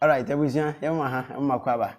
Alright, abusua, yɛn mu aha, yɛn mu akɔ aba.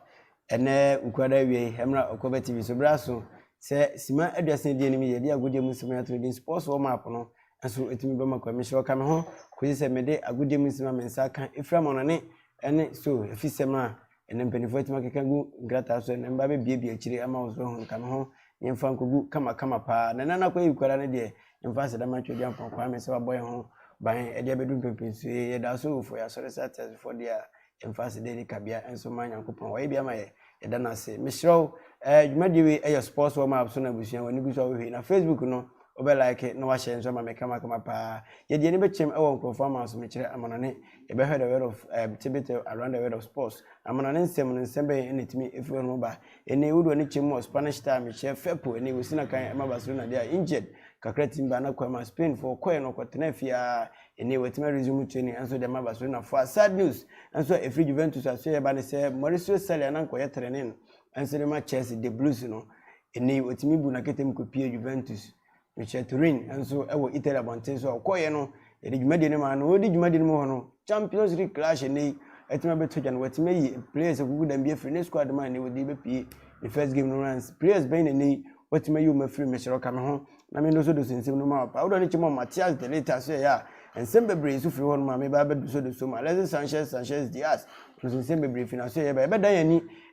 Ɛnɛ nkurada awie yi, ɛmra Ɔkɔbɛ TV so bere aso sɛ sima aduasa di anim yɛ de agodie mu nsɛm ato din sports wɔ map no nso etumi bɛma kwa mehyɛ ɔka me ho kɔsi sɛ mede agodie mu nsɛm a me nsa aka efira ma no ne ɛne so efi sɛm a Ɛnna mpanimfoɔ atumi akeka agu nkrataa so, ɛnna mba bɛbiabia akyire ama wo so ahunu ka me ho na yɛmfa nkɔgu kamakama paa. Na ɛnna no akɔyɛ yikwara no deɛ, yɛmfa aseda ma Tweaduampɔn Kwame sɛ wabɔ yɛn ho ban de abɛdu mpɛmpɛnsuo yi. Yɛdaa so awufoɔ, yɛasɔre sɛ ateasefoɔ deɛ a, yɛmfa aseda ani kabea nso mma Nyankopɔn. Wayɛ bi ama yɛn, yɛda no ase. Mesrɛ wo, eh, dwumadie wei ɛyɛ sports warm up so na abusua, w'ani gu so a wohwɛ yi, na Facebook no, wobɛ like na woahyɛ nso ama me kamakama paa. Yɛde yɛn ani bɛkyɛm wɔ nkurɔfoɔ amansomekyerɛ, amanɔne, Yɛbɛhwɛ the word of um, tidbit eh, around the word of sports. Amanɔne nsɛm no nsɛm bɛn na ɛtumi ɛfiri hɔ no ba? Ɛni wode w'ani kyɛm wɔ Spanish time hyɛ fɛpo ɛni wɔsi na kan ɛma Barcelona deɛ a injured kakra tim ba na kwama Spain foɔ kɔɛ no kɔtena fie a ɛni wɔatumi resume training ɛnso deɛ ma Barcelona foɔ a sad news ɛnso a ɛfiri Juventus a so yɛba ne sɛ Mauricio Sarri a na nkɔyɛ training ɛnso de ma Chelsea the Blues no ɛni wɔtumi bu na ketem kɔpie Juventus Richard Turin nso wɔ Italy abɔnten so a ɔkɔeɛ no, yɛde dwumadie no maa no. Ɔredi dwumadie no mu hɔ no, Champions League clash ɛnnɛ yi atumi abɛto gya na watumi ayi players akukudam bi afiri ne squad mu a ɛnnɛ yi wɔde rebɛpue ne first game no. Rance, players bɛn na ɛnnɛ yi watumi ayi wɔn afiri? Mesrɛ wo, ka me ho na mendosodoso nsɛm no mu ma wo. Pa wo dɔ no kyɛ ma Matheus de Ligt asoɛeɛ a nsɛm bebree nso firi hɔnom a meba abɛdosodoso mu. Alexis Sanchez, Sanchez, Diaz, Nanso nsɛm bebree fi n'aso a ɛyɛ ba. Yɛbɛdan yɛn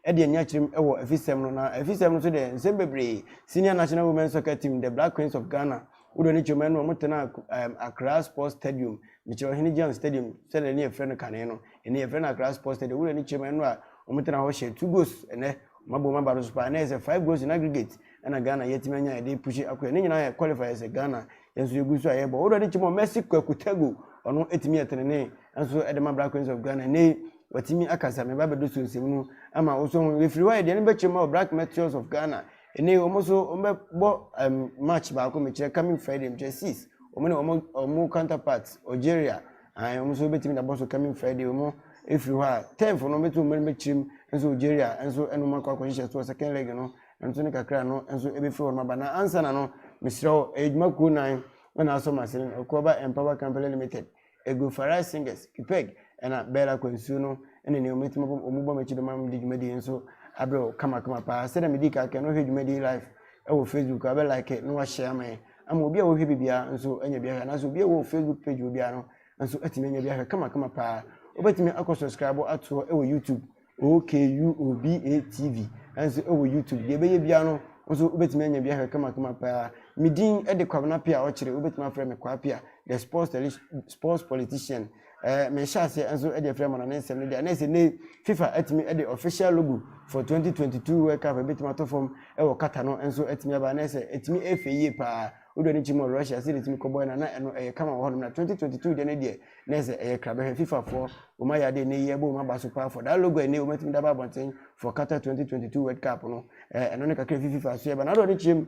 ani de anni akyerem wɔ afisɛm no, na afisɛm no nso deɛ, nsɛm bebree. Senior National Women's Soccer Team, The Black Queens of Ghana, wodoɔ ne Chioma Anu, wɔtenaa um, Accra Sports Stadium, mekyerɛ Ɔhene John Stadium, sɛdeɛ ne yɛfrɛ no kane no. Ɛnɛ yɛfrɛ no Accra Sports Stadium. Wodoɔ ne Chioma Anu a wɔtenaa hɔ hyɛɛ two goals ɛnɛ. Wɔabom aba no so paa. Ɛnɛ yɛ sɛ five goals in aggregate ɛna Ghana yɛatumi anya yɛde pushi akɔ yɛ. Ne nyinaa yɛ qualifier sɛ Ghana yɛn nso yɛgu so a yɛbɔ wodɔ ne kyim ɔmɛsi kwaku tago ɔno ɛtumi ɛtenene nso ɛde ma black queens of ghana ɛnɛ watumi akasa me ba bɛdo so nsɛm no ama wosɔ ho yɛfiri hɔ a yɛdeɛ no bɛkyerɛ ma wɔ black meteors of ghana ɛnɛ wɔn nso wɔbɛbɔ um, match baako mekyerɛ coming friday mekyerɛ six wɔn ne wɔn wɔn counterpart algeria ahan wɔn nso bɛtumi dabɔ so coming friday wɔn ɛfiri hɔ a tenfo no bɛtumi wɔn bɛkyerɛ mu nso algeria nso ɛnum akɔ akɔhyehyɛ so second leg no Nanso ne kakra no nso ɛbɛfiri hɔnom aba. Na ansa na no, mesrɛ wo, ɛyɛ dwuma kuo nan na na asɔ m'asene no, Akuaba Empower Company Limited, Egu Farai Singers, Pipeg, ɛna Bell Akwansuo no ne nea wɔatumi abom, wɔn bɔ m'akyi bɛma mede dwumadie yi nso abrɛ wo kamakama paa. Sɛdeɛ medii kan kan no, wohwɛ dwumadie yi live wɔ Facebook a, bɛ like na wɔahyɛ ama yɛn ama obi a ɔhwɛ bi biara nso anya bi ahwɛ, anaasɛ obi a ɔwɔ Facebook page wɔ biara no nso atumi anya bi ahwɛ kamakama paa. Wobɛtumi akɔ subscribe atoɔ wɔ YouTube OKUOBA TV nso wɔ YouTube. Deɛ ɛbɛyɛ biara no, wo nso wobɛtumi anya bi ahwɛ kamakama paa. Me din de Kwabena Pia Ɔkyere, wobɛtumi afrɛ me Kwaa Pia, the sports, tele, sports politician. Eh, mehyɛ aseɛ nso de afiri amana ne nsɛm no deɛ, na ɛsɛ ne FIFA atumi de official logo for 2022 World Cup ɛbɛtumi ato fam wɔ Qatar no nso atumi aba, na ɛsɛ ɛtumi ɛfɛ yie paa. Wodɔ ne kyi mu wɔ Russia, sɛ ɛtumi kɔbɔɛ na na ɛno ɛyɛ kama wɔ hɔnom, na 2022 deɛ no deɛ, na sɛ ɛyɛ krabɛhwɛ fifa foɔ wɔn ayɛ adeɛ nnɛ yi ɛbɔ wɔn aba so paa for that logo ɛnɛ wɔn atumi daba abɔnten for Qatar 2022 World Cup no ɛɛ ɛno ne kakra fi fifa so yɛ ba na adɔ ne kyerɛ mu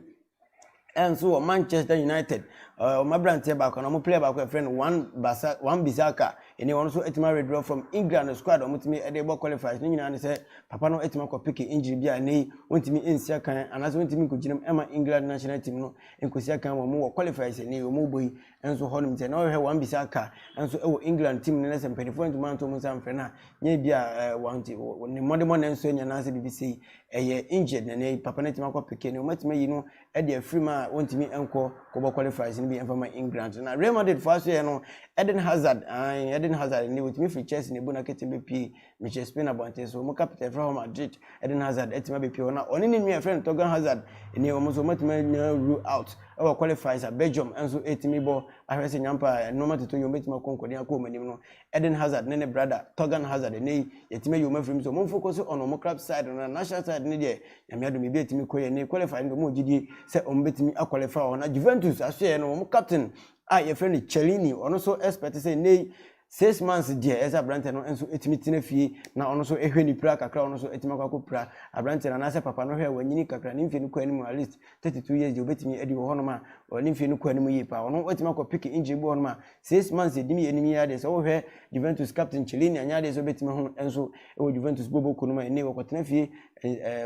ɛnso wɔ Manchester United ɛɛ wɔn aberanteɛ baako na wɔn player baako ɛfrɛ no Wan Basa Wan Bissaka ɛnɛ wɔn nso atumi awɛdrɔ from England no squad wɔn atumi ɛde bɔ qualifiers ne nyinaa ne sɛ papa no atumi akɔ peke injury bi a ɛnɛ yi wɔntumi nsi akan anaasɛ wɔntumi nkɔgyinam ɛma England national team no nkɔsi akan wɔn wɔ qualifiers ɛnɛ yi wɔn bɔ yi nso hɔ nom sɛ na ɔhwɛ wɔn bisa ka nso wɔ England team no na sɛ mpanimfoɔ antumi anto wɔn nsa mfrɛ no a nyɛ bi a wɔnte ne mmɔdemmɔ na nso anya n'asɛ biribi sei ɛyɛ injured na ne papa no atumi akɔ peke no wɔatumi ayi no de afiri mu a wɔntumi nkɔ kɔbɔ qualifiers no bi ɛmfa ma England na Real Madrid foɔ aso yɛ no Eden Hazard Eden Hazard ne wɔtumi firi Chelsea na ebu na kete bɛpie Michel Spain abɔnten so, wɔn kapita a yɛfrɛ hɔ Madrid, Eden Hazard, atumi abepue hɔ, na ɔne ne nua a yɛfrɛ no Thorgan Hazard nie, wɔn nso wɔatumi anya rule out wɔ qualifiers a Belgium nso retumi bɔ ahwɛ sɛ nyɛ ampa a nneɛma tutu yi wɔbɛtumi akɔ nkɔden akɔ wɔn anim no. Eden Hazard ne ne brada Thorgan Hazard, ɛnnɛ yi yɛatumi ayi wɔn afiri mu, so wɔn focus on wɔn club side no, na national side no deɛ, Nyame adom biribi atumi kɔ yie, ɛnnɛ yi qualifier no deɛ wɔwɔ gyidie sɛ wɔbɛtumi a qualify wɔ hɔ, na Juventus asoɛeɛ no, wɔn captain a yɛfrɛ no Chiellini, ɔno nso expect sɛ ɛnnɛ yi Six months deɛ ɛsɛ aberanteɛ no nso ɛtumi tena fie na ɔno nso ɛhwɛ ne pira kakra ɔno nso ɛtumi akɔ akɔ pira aberanteɛ no anaasɛ papa no hwɛ wanyini kakra ne mfie no kɔ anim at least 32 years deɛ ɔbɛtumi adi wɔ hɔnom a ɔne mfie no kɔ anim yie paa ɔno ɛtumi akɔ pick injury bi wɔ hɔnom a six months ɛdim yɛ anim yɛ adeɛ sɛ wohwɛ Juventus captain Cellini anyɛ adeɛ sɛ ɔbɛtumi ho nso ɛwɔ Juventus bobo ko no ma ɛnne wɔkɔtena fie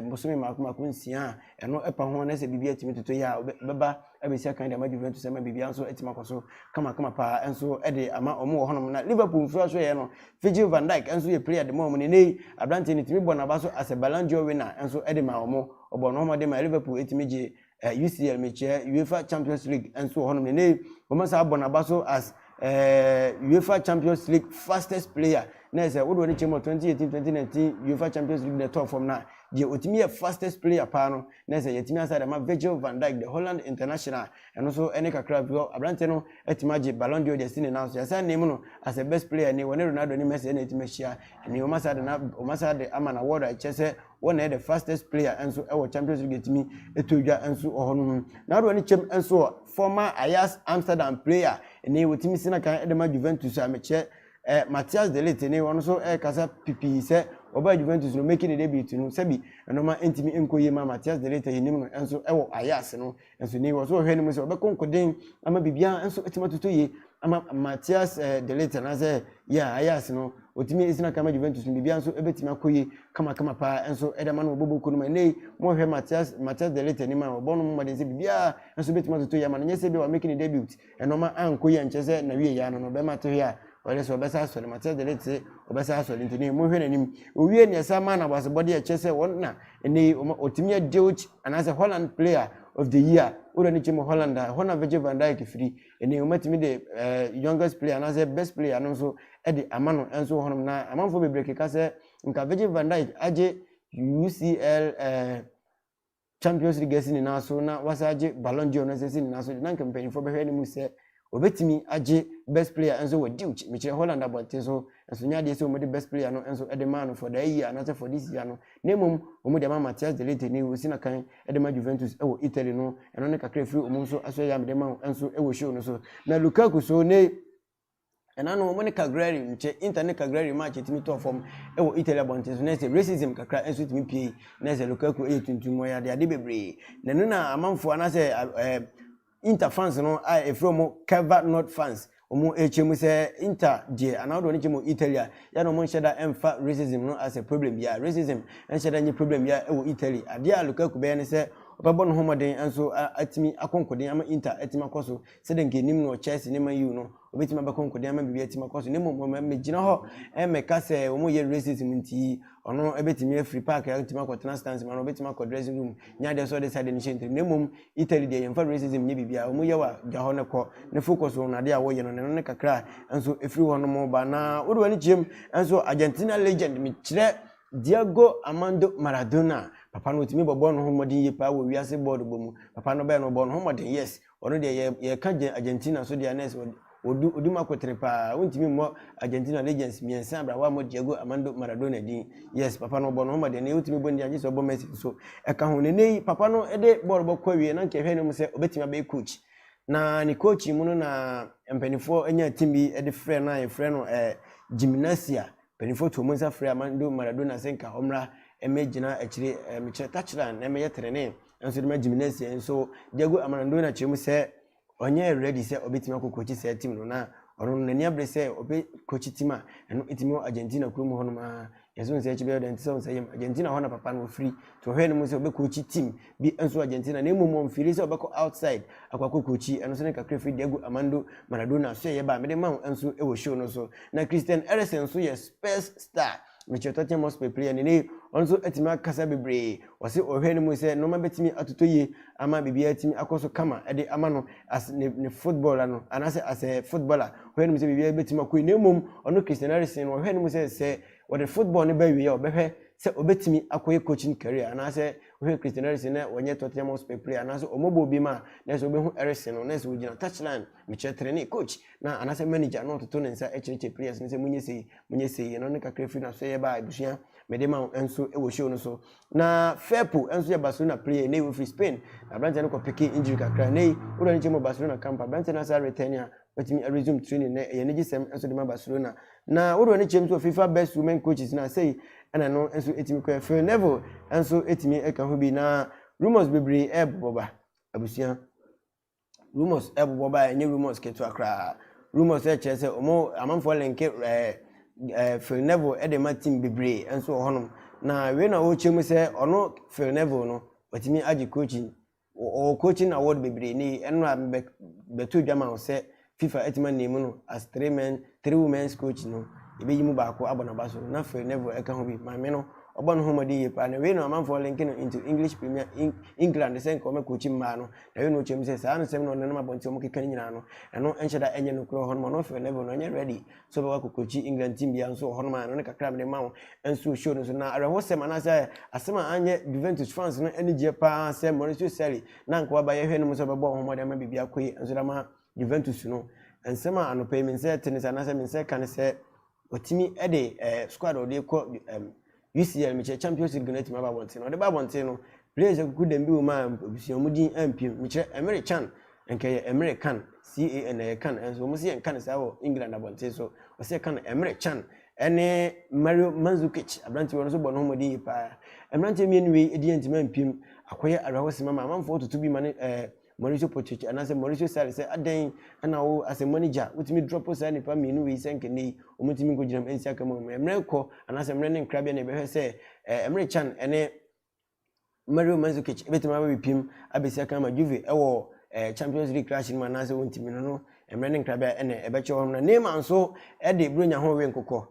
mbosome mako mako nsia a ɛno ɛpa ho anaasɛ biribi atumi toto yɛ a ɔbɛba abɛsi akan de ama Juventus ama biribiara nso atumi akɔ so kamakama paa nso de ama wɔn wɔ hɔnom. Na Liverpool mfiri so yɛ no, Virgil van Dijk nso yɛ player de ma wɔn. Nenɛ yi, aberanteɛ no tumi bɔ n'aba so as a Ballon d'Or winner nso de maa wɔn. Ɔbɔɔ ne ho mmɔden maa Liverpool tumi gye eh, UCL, mekyerɛ UEFA Champions League nso wɔ hɔnom. Nenɛ yi, wɔasa abɔ n'aba so as eh, UEFA Champions League fastest player. Na ɛsɛ wode wɔne kyɛ mu 2018-2019 UEFA Champions League na ɛtɔɔ fam no a, deɛ ɔtumi yɛ fastest player paa no na sɛ yɛatumi asa dɛm a, Virgil van Dijk, the Holland international a ɛno nso ɛne kakra bi hɔ, aberanteɛ no atumi agye Ballon d'Or de asi ne nan so. Yɛasan name no as a best player ni, wɔne Ronaldo ne Messi na atumi ahyia ni, wɔasan de no, wɔasan de ama no award a ɛkyerɛ sɛ wɔn na ɛyɛ the fastest player nso wɔ Champions League atumi ɛtɔ dwa nso wɔ hɔ no ho. N'adoɔ ne kyɛm nso wɔ former Ajax Amsterdam player ni, wɔtumi si n'akan de ma Juventus a mekyerɛ Ɛ, Matthias de Ligt ne wɔn nso rekasa pipii sɛ wɔbaa Juventus no, making ne debut no, sɛbi nnoɔma antumi ankɔ yie mmaa Matthias de Ligt a yɛnim no nso wɔ Ajax no. Nanso nnɛ yi wɔn nso wɔhwɛ anim sɛ wɔbɛkɔ nkoden ama biribiara nso atumi atotɔ yie ama Matthias de Ligt anaasɛ, yeah, Ajax no, ɔtumi gyina kan ma Juventus no, biribiara nso bɛtumi akɔ yie kamakama paa nso de ama no wɔ Bobo kuo no mu. Nnɛ yi mohwɛ Matthias, Matthias de Ligt anim a, wɔbɔ no mmɔden sɛ biribiara nso bɛtumi atotɔ yie ama no, nyɛ sɛ ebia wamaking ne debut, Nnoɔma ankɔ yie ankyerɛ sɛ n'awieeɛ ano no bɛrima te hwe a ɔyere sɛ ɔbɛsan asɔre. Matias de rete sɛ ɔbɛsan asɔre nti ne monhwɛ n'anim. Owiee no yɛsan maa no aboasɛbɔdeɛ a ɛkyerɛ sɛ wɔn na ɛnnɛ yi wɔma ɔtumi yɛ Deutsch anaasɛ Holland Player of the Year wɔ wura no kyɛ mu Holland a ɛhɔ na Virgil van Dijk firi. Ɛnnɛ yi wɔatumi de eh, Youngest Player anaasɛ Best Player no nso de ama no nso wɔ hɔnom na amanfoɔ bebree keka sɛ nka Virgil van Dijk agye UCL eh, Champions League asi ne nan so na wasan agye Ballon d'Or no nso asi ne nan so de, na anka mpanyimfoɔ bɛhwɛ no mu sɛ obetumi agye Best Player nso wɔ Deutsch, mekyerɛ Holland abɔnten so. Nanso ɛnyɛ adeɛ sɛ wɔde Best Player no nso de maa no for that year anaasɛ for this year no, na mmom wɔde ama Matthias de Ligt ne wɔsi no kan de ma Juventus wɔ Italy no. Ɛno ne kakra a ɛfiri wɔn nso aso a ɛyɛ a mede ma wo nso wɔ show no so. Na Lukaku so ne. Ɛna no wɔn ne Cagliari nkyɛ Inter ne Cagliari match a ɛtumi tɔɔ fam wɔ Italy abɔnten so na ɛsɛ racism kakra nso tumi pue na ɛsɛ Lukaku yɛ tuntum ɔyɛ ade ade bebree na ɛno na amanfoɔ anaasɛ ɛɛ Inter fans no a ɛfiri wɔn Cava North fans wɔn ɛkyɛ mu sɛ Inter deɛ anaa wɔde wɔn kyɛ mu Italy a yɛ na wɔn nhyɛ da ɛmfa racism no asɛ problem biara racism nhyɛ da nye problem biara wɔ Italy adeɛ a Lukaku bɛyɛ ne sɛ ɔbɛbɔ ne ho mmɔden nso atumi akɔ nkoden ama Inter atumi akɔ so Sɛdeɛ anka ɛnim no wɔ Chelsea ne Man U no, wɔbɛtumi abɛkɔ nkoden ama biribi atumi akɔ so, na mmom wɔmmɛgyina hɔ mmɛka sɛ wɔyɛ racism nti ɔno bɛtumi afiri park atumi akɔtena stands mu anaa ɔbɛtumi akɔ dressing room nyɛ adeɛ sɛ ɔde sɛ adeɛ no hyɛ ntirim. Na mmom Italy deɛ yɛmfa racism nyɛ biribiara, wɔyɛ wa gya hɔ no kɔ ne focus wɔn adeɛ a wɔyɛ no na ɛno ne kakra nso ɛfiri hɔ nom ba. Na wode w'ani kyerɛ mu nso Argentina legend mekyerɛ Diego Armando Maradona, papa no wɔtumi bɔbɔɔ ne ho mmɔden yie paa wɔ wiase bɔɔlobɔ mu, papa no ɔbɛyɛ no ɔbɔɔ ne ho mmɔden yes Ɔno deɛ yɛ yɛka gyɛ Argentina nso deɛ na ɛsɛ ɔde ɔdu ɔdi mu akotere paa wontumi mmɔ Argentina legends mmiɛnsa abira woammɔ Diego Armando Maradona din yes papa no ɔbɔ no ho ma deɛ na wotumi bɔ ne din agye sɛ ɔbɔ Messi nso ɛka ho ne nɛyi papa no de bɔɔl bɔ kɔ awie na nka ɛhwɛ ne mu sɛ ɔbɛtumi abɛyɛ coach na ne coaching mu no na mpanimfoɔ nya team bi de frɛ no a yɛfrɛ no eh, gymnasia Mpanyimfoɔ too mo nsa frɛɛ Armando Maradona sɛ nka ɔmmra mmɛgyina akyire mmekyerɛ takyiran na mmɛyɛ trenee nso de ma Gimnasia nso Diego Amarandona kyerɛ mu sɛ ɔnyɛɛ ready sɛ ɔbɛtumi akɔ coachi saa team no na ɔno no n'ani abere sɛ ɔbɛ coachi team a ɛno tumi wɔ Argentina kuro mu hɔnom aa yɛnso nsɛ akyi bɛyɛ ɔdɛn te sɛ ɔnsɛ yɛm Argentina hɔ na papa no ɔfiri nti ɔhwɛɛ ne mu sɛ ɔbɛ coachi team bi nso Argentina na mmom ɔmfeeli sɛ ɔbɛkɔ outside akɔ akɔkookyi, ɛno nso ne kakra firi Diego Armando Maradona soɛeɛ ba a mede ma wo nso wɔ show no so. Na Christian Eriksen nso yɛ Spurs star, mekyerɛ Tottenham Hotspur player no nnɛyi, ɔno nso atumi akasa bebree, ɔse ɔhwɛ no mu sɛ nnoɔma bɛtumi atotɔ yie ama biribiara atumi akɔ so kama de ama no as ne ne football no anaasɛ as a footballer, ɔhwɛ no mu sɛ biribiara bɛtumi akɔ yie na mmom ɔno Christian Eriksen no ɔhwɛ no mu sɛ sɛ wɔde football no ba awieɛ a ɔbɛhwɛ sɛ ɔbɛtumi akɔyɛ coaching career anaasɛ Wohwɛ Christian ɛresen na wɔnyɛ Tottenham Hotspur player anaasɛ wɔmmɔbɔ obi ma a, na ɛsɛ wobɛhu ɛresen no, na ɛsɛ ogyina touchline, mekyerɛ trenee, coach, na anaasɛ manager na ɔtoto ne nsa kyerɛkyerɛ players no sɛ monyɛ sei, monyɛ sei, ɛno ne kakra firi n'aso yɛba a abusua mede ma wo nso wɔ show no so. Na Firpo nso yɛ Barcelona player nnɛyi ɔfiri Spain, na aberanteɛ no kɔ peke injury kakra, nnɛyi wode w'ani kyɛm wɔ Barcelona camp a, aberanteɛ no asan return a, watumi aresume training nnɛ, ɛyɛ anigyesɛm nso de ma Barcelona. Na wo wura no kyerɛm sɛ FIFA best women coaches na sei ɛna no nso ɛtumi kɔɛ Phil Neville nso ɛtumi ɛka ho bi na rumors bebree ɛbobɔ ba abusua rumors ɛbobɔ ba ɛnyɛ rumors ketewa koraa rumors ɛkyerɛ sɛ ɔmo amanfoɔ lenke ɛɛ ɛɛ Phil Neville ɛde ma team bebree nso wɔ hɔnom na wei na ɔkyerɛ mu sɛ ɔno Phil Neville no ɔtumi agye coaching Wɔ wɔ Coaching Award bebree nnɛ yi, ɛno na mebɛ bɛto dwa ma wo sɛ Fifa atumi aname no as three men three women's coach no, yɛbɛyi mu baako abɔ n'aba so na Phil Neville ɛka ho bi. Maame no, ɔbɔ ne ho mmɔden yie paa, na wei na ɔmanfoɔ linke no into English Premier Eng England sɛ nka ɔmmɛ coachi mmaa no, na wei na ɔkyerɛ mu sɛ saa nsɛm na ɔnenam abɔnten a wɔkeka no nyinaa no, ɛno nhyɛ da nyɛ nokorɛ wɔ hɔnom, ɔno Phil Neville no ɔnyɛ ready sɛ ɔbɛba kokurokyi England team biara nso wɔ hɔnom a ɛno ne kakra a mede ma wo nso show no so na awerɛhosɛm anaasɛ asɛm a anyɛ Juventus fans no anigyeɛ paa sɛ Maurizio Sarri na anka waba yɛhwɛ no mu sɛ ɔbɛbɔ wɔn ho mmɔden ama biribi akɔ yie nso de ama Juventus no nsɛm a anɔpa yi me nsa te ne sɛ anaasɛ me nsa ka ne sɛ watumi de eh, squad a ɔde kɔ eh, UCL mekyerɛ Champions League no atumi aba abɔnten na ɔde ba abɔnten no players akuku dɛm bi wɔ mu a abusua wɔn din ampiem mekyerɛ Emre Can nka yɛ Emre Can CAN ɛyɛ Can ɛnso wɔn si yɛ nkan saa wɔ England abɔnten so wɔsi yɛ Can Emre Can ɛne Mario Mandzukic aberanteɛ wɔn nso bɔ ne ho mmɔden yi paa mmeranteɛ mmienu wei edi yɛn ntoma mpiem akɔyɛ awerɛhosɛm ama amanfoɔ tutu bi ma ne ɛɛ. Mauricio Pochich anaasɛ Mauricio Sarri sɛ adɛn na wo asɛmmɔ no gya, wotumi drɔpo saa nnipa mmienu wei sɛ nka nnɛyi wɔntumi nkɔgyina mu nsi aka mu ammerɛ. Mmerɛ rekɔ anaasɛ mmerɛ ne nkrabea na yɛbɛhwɛ sɛ Emre Can ne Mario Mandzukic bɛtumi abɛpim abɛsi aka ama Juve wɔ Champions League krahye no mu anaasɛ wɔntumi no no mmerɛ ne nkrabea na ɛbɛkyerɛ hɔ nom. Na Neymar nso de Buronya ho rewe nkokɔ.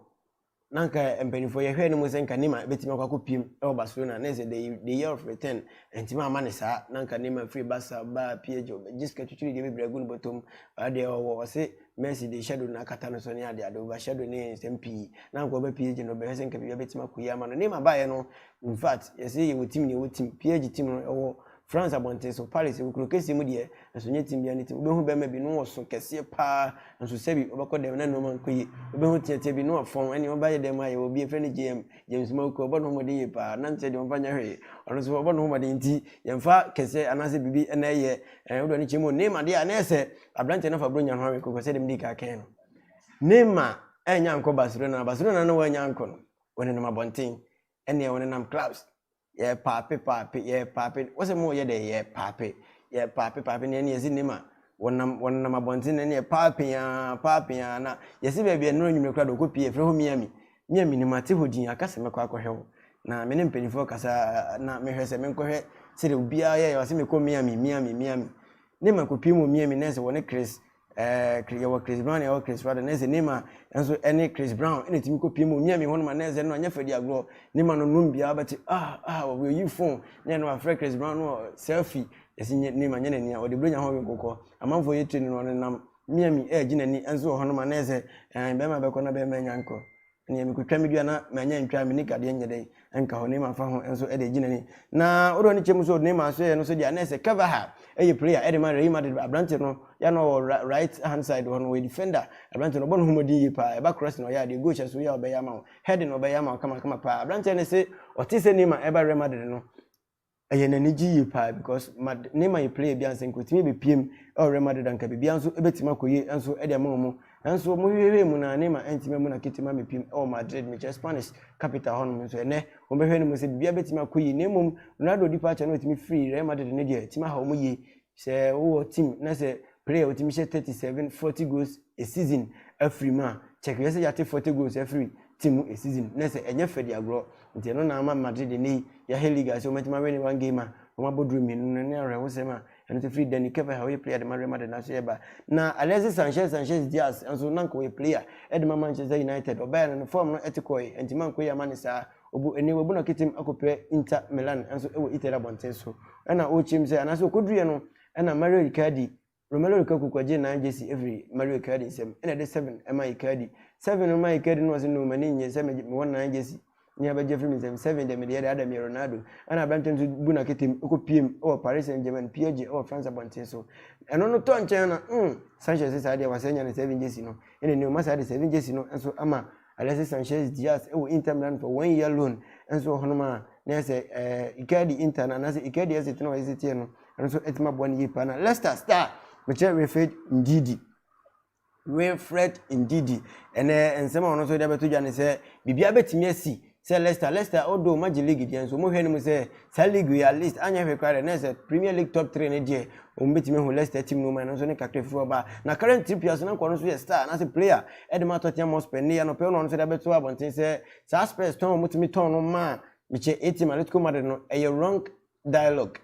na anka mpanimfoɔ yɛhwɛɛ no mu sɛ nka Neymar bɛtumi akɔ akɔpiem wɔ Barcelona na ɛsɛ the, the year of return ɛntumi ama ne saa na anka Neymar firi Barca baa PSG ɔbɛgye sika twitwiri deɛ bebree agu ne bɔtɔm adeɛ ɔwɔ ɔse Messi de shadow no akata no so ne adeɛ ade over shadow ne nsɛm pii na anka ɔba PSG no ɔbɛhwɛ sɛ nka biribi bɛtumi akɔ yi ama no Neymar baeɛ no in fact yɛse yɛwɔ team ne yɛwɔ team PSG team no ɛwɔ France abɔnten so, Paris, nkuro kɛseɛ mu deɛ, nso nyɛ tim biara ne tim. Wobɛhu bɛɛma bi, ne wɔ so kɛseɛ paa, nso sɛbi, wobɛkɔ dɛm na nnoɔma nkɔ yie. Wobɛhu teatea bi, ne wɔ fɔn, ɛneɛ ɔba yɛ dɛn mu a, yɛwɔ obi, yɛfrɛ no JM, James Mawuku, ɔbɔ ne ho mmɔden yie paa, na nkyɛ deɛ ɔmfa nyɛ hwee. Ɔno nso, ɔbɔ ne ho mmɔden, nti yɛmfa kɛseɛ anaasɛ biribi na ɛyɛ, ɛɛ, wode w'ani kyerɛ mu. Neymar deɛ a, na ɛyɛ sɛ aberanteɛ no afa Buronya ho awe koko, sɛdeɛ medii kan kaeɛ no. Neymar annya ankɔ Barcelona, Barcelona na wɔannya ankɔ no, wɔnenam abɔnten, ɛneɛ wɔnenam clubs. Yɛrepaape paape, yɛrepaape, wose moreyɛ dɛn? Yɛrepaape, yɛrepaape paape, nea ɛne yɛdze nnim a, wɔnam, wɔnenam abɔnten na ɛne yɛ paapee ara, paapee ara, na yɛse baabi a nnora anwummere koraa de wɔkɔpue, yɛfrɛ hɔ Miami. Me a mennim, mate hɔ din, aka sɛ mɛkɔ akɔhwɛ wo. Na me ne mpanimfoɔ kasa na mehwɛ sɛ menkɔhwɛ sɛdeɛ obiara yɛeɛ, wɔse mekɔ Miami, Miami, Miami. Ne makɔpue mu wɔ Miami, nɛɛse wɔ ne Chris, Eh, yɛwɔ Chris Brown yɛwɔ Chris Brown na ɛsɛ Neymar nso ɛne Chris Brown ɛna ɛtumi kɔ pie mu onyia mi hɔ no ma na ɛsɛ no anyɛ fɛdi agorɔ Neymar no num biara bɛte ah ah wɔyɛ yi phone na ɛna wafrɛ Chris Brown no selfie ɛsi nye Neymar nyɛ n'ani a ɔde bere nya ho nkokɔ amanfoɔ yɛ tiri no no ɔnenam Miami ɛɛgye n'ani nso wɔ hɔ no ma na ɛsɛ ɛn bɛrima bɛkɔ na bɛrima nya nkɔ Neɛ mekotwa medua na manya ntwa me nika deɛ nyɛ dɛn nka hɔ Neema fa ho nso de agyi n'ani na wode w'ani kyɛ mu so Neema so yɛ no so deɛ na ɛsɛ Carvajal ɛyɛ player de ma Real Madrid aberante no yɛ na ɔwɔ right hand side hɔ no ɔyɛ defender aberante no ɔbɔ ne ho mmɔden yie paa ɛba cross na ɔyɛ adeɛ goal hyɛ so yɛ ɔbɛyɛ ama wo heading ɔbɛyɛ ama wo kamakama paa aberanteɛ no se ɔte sɛ Neema ɛba Real Madrid no Ɛyɛ no anigye yie paa because Mad ne ma yɛ player bi ansa nka ɔtumi bɛpue mu wɔ Real Madrid a nka biribiara nso bɛtumi akɔ yie nso de ama wɔn nanso wɔn hwehwɛhwɛɛ mu no a Neymar antumi ammu n'akete mu ammɛpue mu wɔ Madrid mekyerɛ Spanish capital hɔnom nso ɛnnɛ wɔn bɛhwɛ no mu sɛ biribiara bɛtumi akɔ yie na mmom Ronaldo departure no a ɔtumi firii Real Madrid no deɛ ɛtumi aha wɔn yie Sɛ wowɔ team na sɛ player a otumi hyɛ thirty seven, forty goals a season afiri mu a, check hwɛ sɛ yɛate forty goals afiri team mu a season na sɛ ɛnyɛ fɛ de agorɔ. Nti ɛno na ama Madrid nnɛ yi yɛahwɛ league a sɛ wɔatumi awɛne one game a wɔabɔ draw mmienu no ne awerɛhosɛm a ɛno nso firi Dani Carvajal a ɔyɛ player de ma Real Madrid no aso ɛba. Na Alexis Sanchez Sanchez Diaz nso na anka ɔyɛ player de ma Manchester United, ɔbaeɛ no ne form no te kɔeɛ, ɛnti mankɔ yie amma no saa. Obu ene wabu na ketem akɔpira Inter Milan nso wɔ Italy abɔnten so na ɔrekyem sɛ anaasɛ ɔkɔduruiɛ no na Mario Icardi, Romelu Lukaku kɔgyee nan gyesi ɛfiri Mario Icardi nsam na ɛde seven maa Icardi. Seven no maa Icardi no ɔse no m'ani nnye sɛ me mewɔ nan gyesi ne abɛgye afiri me nsam, seven deɛ medeɛ dada meyɛ Ronaldo. Ɛna aberanteɛ no nso bu naketem kɔpiem wɔ Paris Saint Germain, PSG, wɔ France abɔnten so. Ɛno no tɔ nkyɛn na mm Sanchez saa deɛ wasane anya ne seven gyesi no na ɛnɛ ɔma saa de seven gyesi no nso ama Alexis Sanchez Diaz wɔ Inter Milan for one year loan nso wɔ hɔnom a na yɛ sɛ ɛɛ Icardi Inter no anaasɛ Icardi ɛsɛ tena ɔyɛ sɛ teɛ no ɛno nso ɛtumi aboa no yie paa na Leicester star mekyerɛ Wilfred Ndidi Wilfred Ndidi ɛnɛ nsɛm a ɔno nso de abɛto dwa ne sɛ biribiara bɛtumi asi Sɛ Leicester, Leicester o doo magye league deɛ nso wɔhwɛ no mu sɛ saa league wei at least anyɛ hwee koraa deɛ na yɛ sɛ Premier League top three no deɛ wɔn bɛtumi ahu Leicester team no mu ɛno nso ne kakra firi hɔ ba na Kieran Trippier nso na nka ɔno nso yɛ star anaasɛ player ɛde ma Tottenham Hotspur nnɛ yi anɔpa yi na ɔno nso de abɛto abɔnten sɛ saa Spurs tɔn a wɔtumi tɔn no maa mekyɛ A-team Atletico Madrid no ɛyɛ wrong dialogue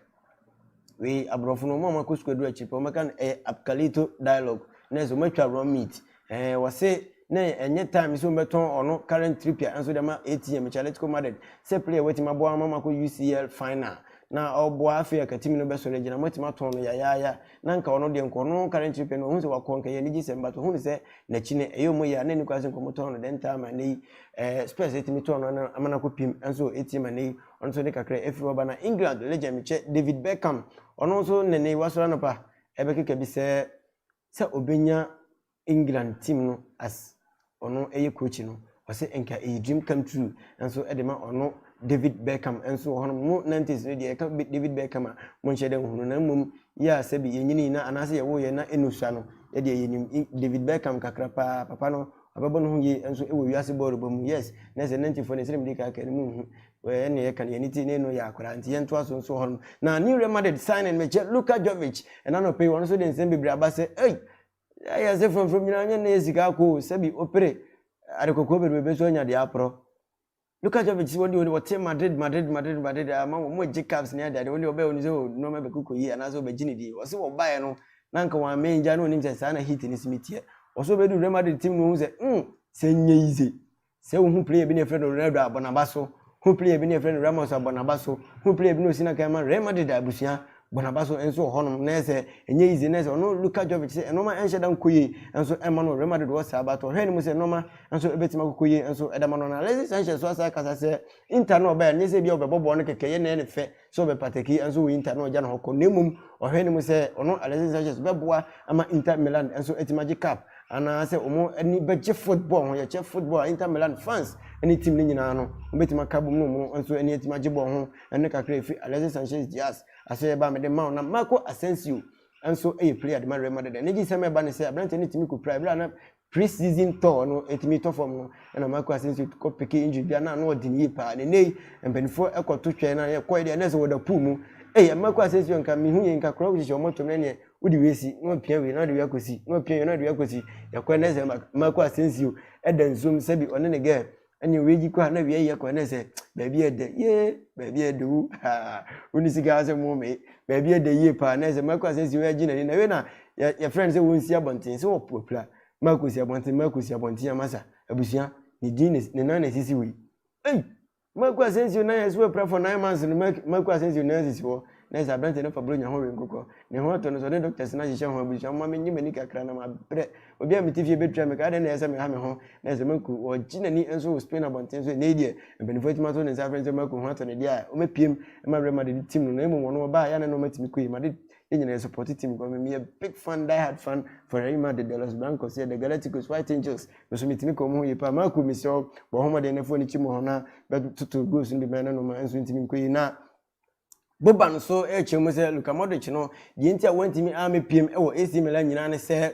wei aborɔfo no wɔn a wɔakɔ sukuu aduru akyiri pɛ wɔbɛka no ɛyɛ apkalito dialogue na ɛsɛ wɔatwa wrong meat ɛɛ wɔse na ɛnyɛ time sɛ wɔbɛtɔn ɔno current tripia nso de ma atm chaletico madrid sɛ player wɔatumi aboa ma makɔ ucl final na ɔboa afei akatimi no bɛsɔre agyina wɔatumi atɔn no yayaaya na nka ɔno deɛ nkɔ no current tripia no ɔhu sɛ wakɔ nka yɛ anigye sɛm but ɔhu sɛ n'akyi no ɛyɛ ɔmo yɛ a na ɛni kwan sɛ nkɔmotɔn no dɛn taa ma ɛnɛ yi ɛɛ spurs atumi tɔn no ama no akɔ pim nso atm ɛnɛ yi Ɔno nso ne kakra afiri hɔ ba. Na England legend me kyɛ David Beckham, ɔno nso nnɛ nnɛ yi wasɔre anɔpa ɛbɛkeka bi sɛ sɛ ɔbɛnya England team no as ɔno ɛyɛ coach no, ɔsɛ nka ɛyɛ dream come true. Nanso ɛde ma ɔno David Beckham nso wɔ hɔ nom, mo nineties no deɛ yɛka David Beckham a mo nhyɛ da nhu no, na mmom yɛ a sɛbi yɛnyinii na anaasɛ yɛwoo yɛn na ɛnusua no yɛdeɛ yɛnim David Beckham kakra paa, papa no Abɛbɔ no ho yie nso wɔ wiase bɔɔlo bɔ mu. Yes, na ɛsɛ Nantifoɔ no, sɛdeɛ mede kan kaeɛ no, monhu ɛne yɛka no, yɛn ani te, na ɛno yɛ akwadaa, nti yɛntoa so nso hɔnom. Na new Real Madrid signing mekyɛ Luka Jovic, ɛna anɔpa yi ɔno nso de nsɛm bebree aba sɛ, ei, ɛyɛ ase frɔmfrɔm nyinaa nyɛ nnɛ yɛ sika ako o, sɛbi opere ade kɔkɔɔ bebrebe so anya deɛ aporɔ. Luka Jovic se wɔn deɛ wɔn wɔte Madrid Madrid Madrid Madrid aa ma wɔn wɔgye caps ne adeade wɔn deɛ wɔbɛɛ wɔnim sɛ oh nnoɔma bɛkɔ kɔ yie anaasɛ wɔbɛgye ne din ɔse wɔbaeɛ no na anka wɔn amee ngya na ɔnim sɛ saa na heat no se me teɛ ɔse ɔbɛduru Real Madrid team no ɔhu sɛ mm sɛ nyɛ yize sɛ wohu player bi na yɛfrɛ no Ronaldo a bɔ naba so hu player bi na yɛfrɛ no Ramos a bɔ naba so hu player bi na ɔsi na kan ma Real Madrid abusua Barnaba so nso wɔ hɔnom na ɛsɛ ɛnyɛ yize na ɛsɛ ɔno Luka Jovic sɛ nnoɔma ɛnhyɛ da nkɔ yie nso ɛmma no ɔrema dodoɔ saa but ɔhwɛ anim sɛ nnoɔma nso ɛbɛtumi akɔkɔ yie nso ɛda ma no na Alexis Sanchez so asan akasa sɛ Inter no ɔbɛɛ ɛnyɛ sɛ ebia ɔbɛbɔ bɔɔl no kɛkɛ yɛ na ɛyɛ ne fɛ sɛ ɔbɛpataki nso wɔ Inter na ɔgya ne hɔ kɔ na mmom ɔhwɛ anim sɛ ɔno Alexis Sanchez bɛboa ama Inter Milan nso atumi agye cup anaasɛ wɔn ani bɛgye football ho yɛkyɛ football a Inter Milan fans ne team no nyinaa no wɔbɛtumi aka bom no wɔn nso ani atumi agye bɔɔl ho ɛno kakra efi Alexis Sanchez Diaz ase a ɛbaa mede maa wo na Marco Asensio nso yɛ player de ma Real Madrid ɛne gye sɛm ɛba ne sɛ aberante no tumi kɔpira ɛberɛ a na pre-season tɔɔ no ɛtumi tɔ fam no ɛna Marco Asensio kɔ peke injury bi a na ano ɔden yie paa ne nnei mpanimfoɔ ɛkɔto twɛn na yɛkɔɛ deɛ ɛnɛ sɛ wɔda pool mu ɛyɛ Marco Asensio nka mehu yɛ nka korɔ wohyehyɛ wɔn tom na ɛneɛ wode wei si na wapia wei na wode wei akɔsi na wapia wei na wode wei akɔsi yɛkɔɛ na ɛsɛ Marco Asensio ɛda nsuom sɛbi ɔne ne gɛɛ ɛne owie gyi kɔ a na awia yɛ kɔ ɛne sɛ baabi ɛdɛ yee baabi ɛdɛ wu haa woni sika asɛ mo me baabi ɛdɛ yie paa na ɛsɛ mako asɛ si wɔ ɛgye n'ani na ɛwɛ na yɛfrɛ no sɛ wɔn si abɔnten sɛ wɔpopira mako si abɔnten mako si abɔnten amasa abusua ne din ne nan na esisi wɔ yi ɛyi mako asɛ nsi o nan ɛsɛ wɔ pira for nine months no mako asɛ nsi o nan sisi wɔ. Nurse, Aberanteɛ no fa Buronya ho we nkokɔ. Ne ho atɔ no so. Ɔne doctors no ahyehyɛ ho abusua. Momma mennye m'ani kakra na mabrɛ. Obi a mete fie bɛtua me ka. Adɛn na ɛyɛ sɛ meha me ho? Nurse, Maku. Ɔregye n'ani nso wɔ Spain abɔnten so. Ɛnnɛ yi deɛ, mpaninfoɔ atumi ato ne nsa afrɛ no sɛ Maku. Ho atɔ no deɛ a, ɔmɛpiem ma awerɛ ma dede tim no. Na mmom ɔno ɔbaa a, yɛ a na ɛno matumi kɔi. Made yɛn nyinaa yɛ supporte team kɔ. Me, meyɛ big fan, die hard fan, for Real Madrid, the Los Blancos, yeah, the Galacticos, White Angels. Me nso metumi ka wɔn ho yie paa. Maku, mesrɛ wo, bɔ wo ho mmɔden na fa w'ani kyim wɔ hɔ na bɛtoto goals no bi ma yɛne no ma ɛnso ntumi nkɔi. Na. Boban nso kyerɛ mu sɛ Luka Modric no, deɛ nti a wantumi ammɛpiem wɔ AC Milan nyinaa ne sɛ,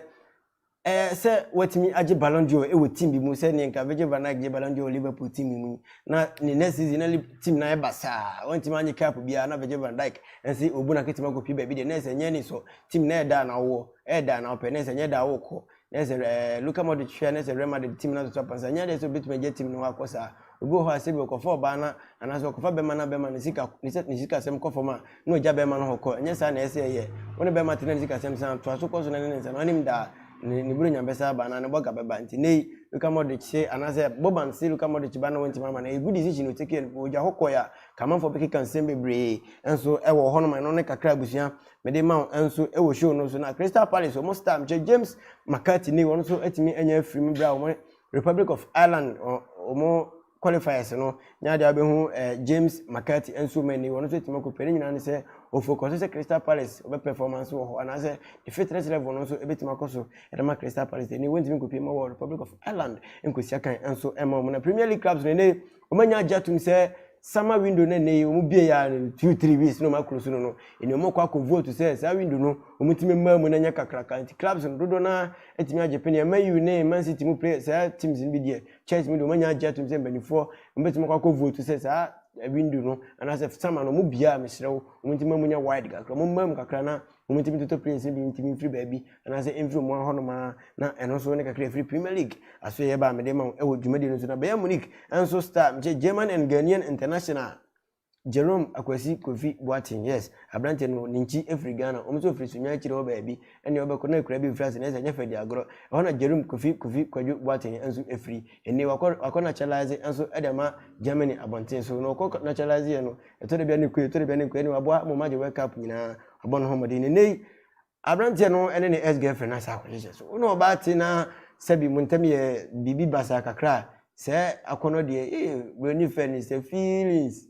ɛɛ sɛ watumi agye Ballon d'Or wɔ team bi mu sɛ nea nka Virgil van Dijk gye Ballon d'Or wɔ Liverpool team mu yi. Na ne next season na team no ayɛ basaa, wantumi anye cup biara na Virgil van Dijk nse obu no akatumi akɔpie baabi deɛ nurse nyɛ ani sɔ team no ɛyɛ da na wowɔ, ɛyɛ da na wopɛ nurse nyɛ da a wokɔ. na ɛsɛ sɛ ɛɛ Luka Modric hwɛ na ɛsɛ sɛ Real Madrid team no atoto apansa nyɛ adeɛ sɛ obetumi agya team no hɔ akɔ saa obi wɔ hɔ a sɛ bi ɔkɔfa ɔbaa na anaasɛ ɔkɔfa bɛrima na bɛrima ne sika ne sɛ ne sika asɛm kɔ fam a na ɔgya bɛrima no hɔ kɔ ɛnyɛ saa na ɛsɛ sɛ ɛyɛ wɔn ne bɛrima te na ne sika asɛm san toa so kɔ so na ne ne nsa no anim daa ne ne buronya bɛsa aba anaa ne bɔga bɛba nti ne yi Luka Modric se anaasɛ Boban se Luka Modric ba na wɔntumi ama no ɛyɛ good decision ɔtake no ɔgya hɔ kɔɛ a kamanfoɔ bɛkeka nsɛm bebree nso ɛwɔ hɔnom ɛno ne kakra abusua Mede ma wo nso wɔ show no so na Crystal Palace wɔn star mkyɛ James McCarthy ne wɔn nso atumi anya afiri mu berɛ a wɔn Republic of Ireland wɔn qualifiers no nya de abɛhu eh, James McCarthy nso ma ni wɔn nso atumi akɔpɛ ne nyinaa ne sɛ ɔfokɔ so sɛ Crystal Palace wɔbɛ performance wɔ hɔ anaasɛ the fitness level no nso ɛbɛtumi akɔ so ɛde ma Crystal Palace ɛni wɔntumi nkɔpie ma wɔ Republic of Ireland nkɔsi akan nso ɛma wɔn na Premier League clubs no ɛne Wɔanya agye atom sɛ summer window no ɛnnɛ yi wɔbue yi ara no two three weeks na wɔn akuru so no no ɛnna wɔn kɔ akɔ vote sɛ saa window no wɔn tumi mmaa mu na ɛnyɛ kakraka nti clubs no dodoɔ no ara atumi agye pene ɛma U ne Man City mu players saa teams no bi deɛ Chelsea mu deɛ wɔanya agye atom sɛ mpanimfoɔ wɔn bɛtumi akɔ akɔ vote sɛ saa window no anaasɛ summer no wɔn bue a mesrɛ wo wɔn ntumi mma mu nyɛ wide kakra wɔn mmaa mu kakra na Wɔtumi toto players no bi ntumi mfiri baabi anaasɛ mfiri wɔn ahɔnom ara, na ɛno nso ne kakra a ɛfiri Premier League asoɛeɛ ba a mede ma wo wɔ dwumadie no so. Na Bayern Munich nso star, mekyɛ German and Ghanaian international Jerome Akwasi Kofi Boateng, yes, aberanteɛ no ne nkyi firi Ghana, wɔn nso firi Sunyani akyire hɔ baabi ne ɔbɛkɔ, na akuraa bi mfiri ase, nanso ɛnyɛ fɛ di agorɔ, ɛhɔ na Jerome Kofi Kofi Kwadwo Boateng nso firi. Ɛnnɛ yi wakɔ, wakɔ naturalise nso de ama Germany abɔnten so, na ɔkɔ naturaliseɛ no, Ɛtɔ da bi a ne kue, ɛtɔ da bi a ne nkue. Ɛnna waboa mo ma gye World Cup nyinaa, wabɔ ne ho mmɔden. Na nnɛ yi, aberanteɛ no ne ne ex-girlfriend no asan akɔhyehyɛ. So wo ne ɔbaa te na sɛbi mo ntam yɛ biribi basaa kakra a, saa akɔnnɔ deɛ, ee, Buroni fɛ no sɛ feelings,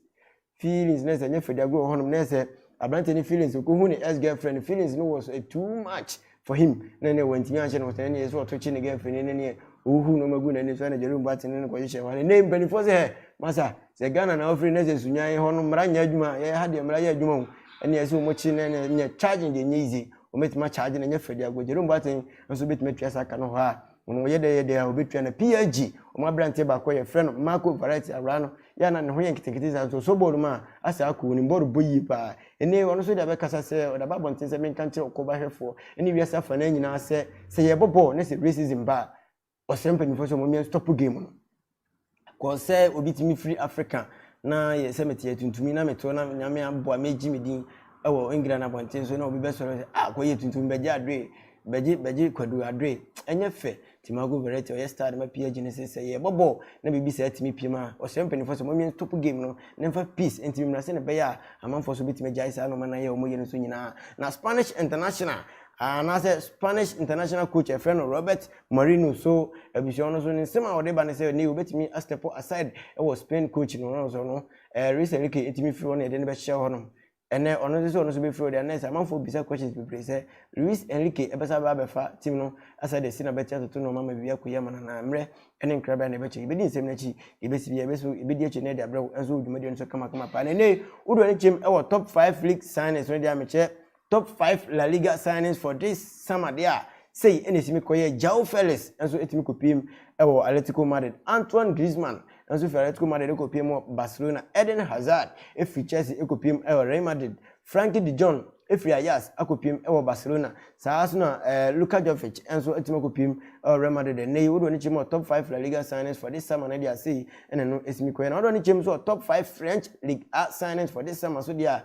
feelings. Na sɛ ɛnyɛ Fadi Agorɔ wɔ hɔnom, na ɛyɛ sɛ aberanteɛ no feelings, ɔkɔhu ne ex-girlfriend no, feelings no wɔ so, eh, too much. for him na ɛnɛ wantumi anhyɛ no ɔsɛn neɛ sɛ ɔtokye ne girlfriend ne neɛ ɔhuhu nɔma gu n'ani so na Jerome Boateng ne no kɔhyehyɛ hɔ ne mpanimfoɔ sɛ hɛ masa sɛ Ghana na ɔfiri ne sɛ sunyan hɔ no mmara nyɛ adwuma yɛ ha deɛ mmara yɛ adwuma ho ɛneɛ sɛ wɔkye ne ne nyɛ charging deɛ nyɛ yize wɔbɛtumi akyagye no nyɛ fɛ de agɔ Jerome Boateng nso bɛtumi atua saa ka no hɔ a Wɔn wɔyɛ dɛ yɛ dɛ a obetua no PLG wɔn aberanteɛ baako a yɛfrɛ no Marco Verratti awraa no yɛ a na ne ho yɛ nketenkete saa nso ɔsɔ bɔɔl mu a asaa ako onim bɔɔl bɔ yie paa ene ɔno nso de abɛkasa sɛ ɔde aba abɔnten sɛ menka nkyerɛ ɔkɔba hwɛfoɔ ne wiase afanaa nyinaa sɛ sɛ yɛrebɔ bɔɔl na sɛ racism ba a ɔsrɛ mpanyimfoɔ sɛ wɔn mmea nstop game no Kɔ sɛ obi tumi firi Afrika na yɛ sɛ mete atuntumi na meto na nyame aboa megye me din wɔ England abɔnten so na obi bɛsɔre sɛ ah kɔyɛ tuntumi bɛgye adoe bɛgye bɛgye kwadu adoe ɛnyɛ fɛ Timago Verratti ɔyɛ star de ma PSG ne se sɛ yɛbɔ bɔɔl na biribi saa tumi piem a ɔsrɛ mpanyinfoɔ sɛ ɔmamia nstop game no na mfa peace ntumi mmra sɛne bɛyɛ a amanfoɔ so bɛtumi agyae saa nɔɔma na yɛ ɔmo yɛ no so nyinaa na Spanish international anaasɛ Spanish international coach ɛfrɛ no Robert Mourinho so abusua no so ne nsɛm a ɔde ba ne sɛ ne obetumi a step aside wɔ Spain coach no no so no ɛɛ Luis Enrique etumi firi hɔ na yɛde no bɛhyɛ hɔ nom ɛnɛ ɔno nso sɛ ɔno nso bɛfiri hɔ deɛ ɛnɛ sɛ amanfoɔ bisa questions bebree sɛ Luis Enrique ɛbɛsa aba abɛfa team no asɛ de si na bɛte atoto nneɛma ma biribi akɔyi ama no anaa mmerɛ ɛne nkrabea na ɛbɛkyɛ yɛbɛdi nsɛm no akyi yɛbɛsi bi yɛbɛso yɛbɛdi akyi na ɛde abrɛ wo nso dwumadie no so kamakama paa na ɛnɛ wodoɔ ne kyɛm ɛwɔ top 5 league signings no deɛ a mekyɛ Top five La Liga signings for this summer deɛ a, sei na ɛtumi kɔyɛɛ, Joao Felix nso tumi kɔpuem wɔ Atletico Madrid, Antoine Griezmann nso firi Atletico Madrid kɔpuem wɔ Barcelona, Eden Hazard firi Chelsea kɔpuem wɔ Real Madrid, Frankie de Jong firi Ajax akɔpuem wɔ Barcelona, saa ara nso na Luka Jovic nso atumi akɔpuem wɔ Real Madrid. Ɛnnɛ yi, wode w'ani kyerɛ mu a, top five La Liga signings for this summer no deɛ a, sei na ɛno tumi kɔyɛɛ. Na wode w'ani kyerɛ mu nso wɔ top five French Ligue 1 signings for this summer nso deɛ a,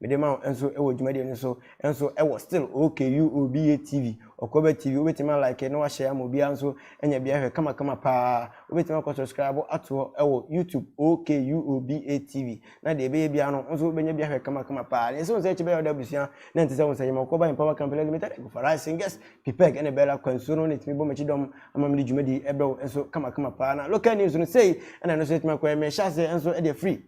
Mede ma wo nso wɔ dwumadie no so nso wɔ still OKUOBA TV, Okoba TV, wobɛtumi a like na wahyɛ ama obiara nso anya bia hwɛ kama kama paa. Wobɛtumi akɔ subscribe ato hɔ wɔ YouTube OKUOBA TV na deɛ ɛbɛyɛ biara no nso wobɛnya bia hwɛ kama kama paa. Na ɛsɛ wo sɛ ɛkyɛ bɛyɛ ɔda abusua na ɛnte sɛ wo sɛ yɛma Okoba Empower Company Limited ɛgu for rising guest Pipeg ɛne Bella Kwansuo no na ɛtumi bɔ m'akyi dɔm ama mede dwumadie ɛbrɛ wo nso kama kama paa na local news no sei ɛna ɛno nso ɛtumi akɔ ɛmɛ hyɛ aseɛ nso ɛde afiri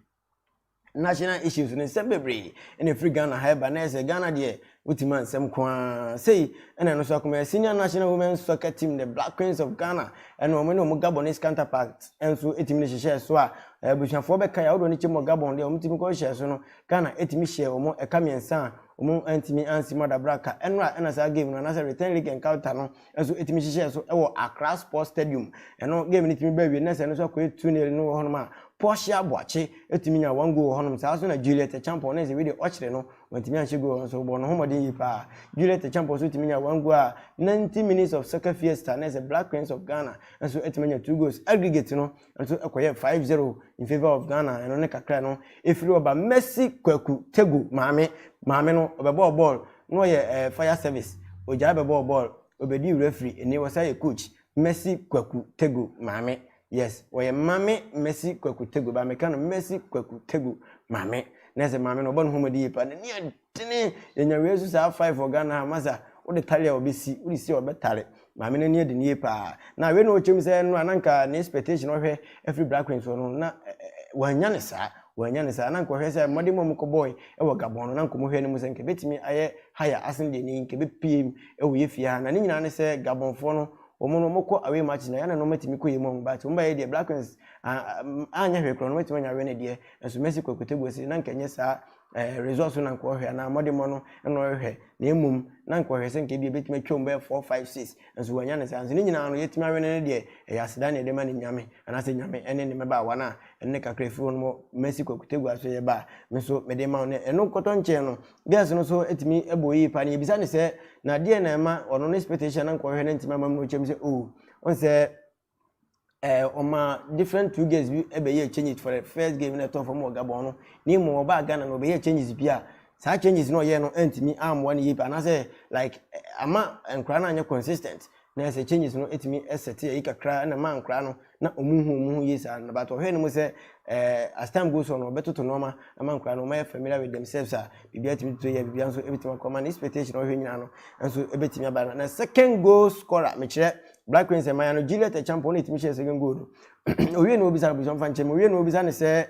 national issues no nsɛm bebree na ɛfiri ghana ha ɛba na ɛsɛ ghana deɛ wotumi a nsɛm ko ara sei ɛna ɛno nso akoma yɛ senior national women soccer team the black queens of ghana ɛna wɔn ne wɔn gabonese counterparts nso ɛtumi ne hyehyɛ so a abusuafoɔ bɛka yɛ ahodoɔ no kyɛm wɔ gabon deɛ wɔn tumi kɔ hyɛ so no ghana ɛtumi hyɛ wɔn ɛka mmiɛnsa a wɔn ntumi ansi mu adabra ka ɛno a ɛna saa game no anaasɛ return leg encounter no nso tumi hyehyɛɛ so wɔ Accra Sports Stadium. Ɛno game no tumi baa wie na sɛ ɛno nso akɔyɛ 2-0 no wɔ hɔnom a Portia Boakye tumi nya one goal wɔ hɔnom. Saa nso na Juliet Acheampong na sɛ wei deɛ ɔkyerɛ no wantumi anhyɛ goal nso ɔbɔ ne ho mmɔden yie paa. Juliet Acheampong nso tumi nya one goal a 90 minutes of soccer fiesta na sɛ Black Queens of Ghana nso tumi anya two goals. Aggregate no Nso ɛkɔyɛɛ five zero in favour of Ghana ɛno ne kakra no ɛfiri ɔba Mercy Kwaku Tegu maame maame no ɔbɛbɔɔ bɔɔl na ɔyɛ ɛɛ fire service ɔgyae bɛbɔɔ bɔɔl ɔbɛdii referee ɛnnie ɔsan yɛ coach Mercy Kwaku Tegu maame yes ɔyɛ maame Mercy Kwaku Tegu but meka no Mercy Kwaku Tegu maame na ɛsɛ maame no ɔbɔ ne ho mmɔden yie paa n'ani Tene yɛnya wei nso saa five wɔ Ghana ha masa wode tare a ɔbɛsi wode si a ɔbɛtare maame no ani adi no yie paa na wei na ɔkyɛm sɛ ɛno a na nka ne expectation ɔhwɛ afiri Black Queens hɔ no na wɔanya ne saa wɔanya ne saa na nka ɔhwɛ sɛ mmɔden mu a mokɔbɔe wɔ Gabon no na nka ɔhwɛ no mu sɛ nka ɛbɛtumi ayɛ higher asen deɛ ne nka ɛbɛpie mu wɔ yɛ fie ha na ne nyinaa ne sɛ Gabonfoɔ no wɔn no wɔkɔ away matches na yɛn na wɔatumi kɔ yɛ mu wɔn but wɔn baayɛ deɛ Black Queens anyɛ hwee korɔ no wɔatumi anya awɛ no deɛ nso Messi kɔ Kotagua si na nka nyɛ saa ɛɛ results no na nka ɔhwɛ anaa mmɔdemmɔ no na ɔhwɛ na mmom na nka ɔhwɛ sɛ nka ebi ebetumi atwam bɛyɛ four five six nso wɔanya ne saa nso ne nyinaa no yɛtumi awene no deɛ ɛyɛ aseda na yɛde ma ne nyame anaasɛ nyame ɛne ne mmabaawa no a ɛne kakra efiri wɔn mo mɛsi kwakutegua so yɛ ba a me nso mede ma wɔn ɛno nkɔtɔ nkyɛn no girls no so etumi ɛbɔ yie paa na yɛbisa ne sɛ na deɛ na ɛma ɔno ne expectation na nka ɔhwɛ na ntumi ama mu no kyɛm sɛ oo ɔn sɛ ɛɛ ɔmaa different two girls bi bɛyɛɛ changes for the first game na ɛtɔɔ fam wɔ Gabon no na mmom ɔbaa Ghana no ɔbɛyɛɛ changes bi a saa changes no ɔyɛɛ no antumi ammoa no yie paa anaasɛ like ama nkwadaa no anyɛ consistent na ɛsɛ changes no ɛtumi ɛsɛte ayi kakra na ma nkwadaa no na ɔmu hu ɔmu ho yie saa na but ɔhwɛ no mu sɛ ɛɛ as time goes on ɔbɛtoto nneɛma ama nkwadaa no ɔmayɛ familiar with themselves a biribi atumi toto yɛ biribi nso ɛbɛtumi akɔ ma no expectation ɔhwɛ nyinaa no nso ɛbɛtumi aba na second goal scorer mekyerɛ black prince ɛmaya no juliet ɛkyampɔn na ɛtumi hyɛ second goal no owie na obisa abusua mfa nkyɛn mu owie na obisa ne sɛ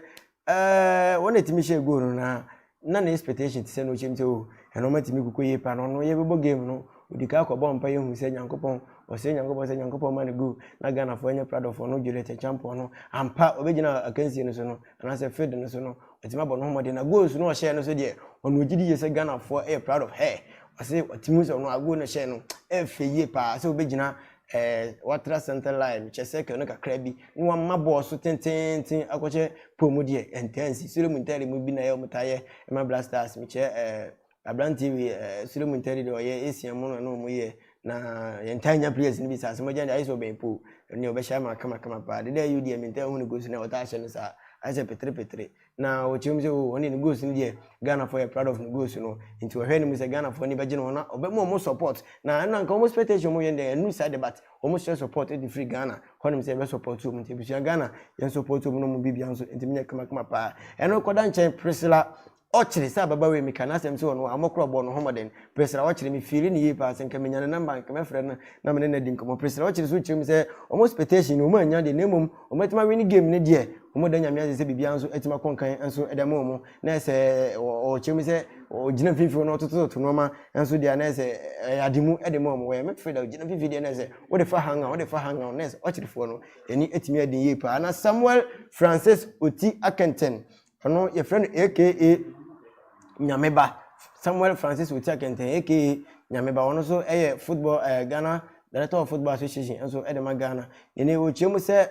ɛɛ wɔn na ɛtumi hyɛ goal no na na ne expectation ti sɛ na ɔkyɛm sɛ o oh, ɛna ɔma tumi koko yie pa na ɔno yɛbɛbɔ game no odi ka akɔbɔ mpa yɛhu sɛ nyankopɔn ɔsɛ nyankopɔn sɛ nyankopɔn ma no goal na ghanafoɔ ɛnyɛ pradɔfoɔ no juliet ɛkyampɔn no ampa ɔbɛgyina akansie no so no anaasɛ field no so no ɔtumi abɔ no ho mmɔden na goals no ɔhyɛɛ no so deɛ ɔno ɔgye di yie sɛ ghanafoɔ ɛyɛ proud of her Ɔse ɔte mu sɛ ɔno ago no hyɛ no ɛfɛ yie paa sɛ ɔbɛgyina ɛɛ watra center line kyɛ circle no kakra bi na wama bɔɔl so tenteenten akɔhyɛ pole mu deɛ ɛntaa nsi soro mu ntɛre mu bi na ɛyɛ ɔmo taa yɛ ɛma black stars mekyɛ ɛɛ abranteɛ wei ɛɛ soro mu ntɛre deɛ ɔyɛ asia mu na ɔmo yɛ na yɛntaa nya players no bi saa sɛ mogya deɛ ayɛ sɛ ɔbɛn pole ɛne ɔbɛhyɛ ama kama kama paa deda ɛyɛ deɛ mentaa hu ne goals na ɔtaa hyɛ no saa ayɛ sɛ petere petere na ɔkyerɛ mu sɛ o oh, ɔne ne goals no deɛ ghanafoɔ yɛ proud of ne goals no nti ɔhwɛ no mu sɛ ghanafoɔ ani bɛgye ne ho na ɔbɛma ɔmo support na ɛno anka ɔmo expectation ɔmo yɛ deɛ ɛnu saa de but ɔmo hyɛ support de firi ghana hɔnom sɛ ɛbɛ support ɔmo nti ebusua ghana yɛn support ɔmo na ɔmo bibia nso nti menyɛ kamakama paa ɛno kɔda nkyɛn priscilla ɔkyere sɛ ababa wei meka n'asɛm sɛ ɔno a ɔmɔkorɔ bɔ no homɔden presra ɔkyere me fiili ne yie paa sɛ nka menya ne namba nka mɛfrɛ no na mene no adi nkɔmmɔ presra ɔkyere so kyerɛ mu sɛ ɔmo expectation no ɔmo anya deɛ na mmom Wɔn atumi awini game no deɛ wɔn da nyame ase sɛ biribiara nso atumi akɔ nkan nso ɛda mu wɔn na ɛsɛ ɔkyerɛ mu sɛ ɔgyina mfimfini na ɔtotototo nneɛma nso deɛ na ɛsɛ ɛyɛ ade mu ɛde mu wɔn wɔyɛ mɛtɔ fɛ da ɔgyina mfimfini deɛ na ɛsɛ ɔde fa hanga ɔde fa hanga ɔna ɛsɛ ɔkyerɛfoɔ no ɛni atumi adi yie paa na Samuel Francis Oti Akenten Ɔno yɛfrɛ no aka Nyameba Samuel Francis Otia Kɛntɛn aka Nyameba ɔno nso yɛ football ɛɛ eh, Ghana Director of Football Association nso de ma Ghana yɛne wɔkyia mu sɛ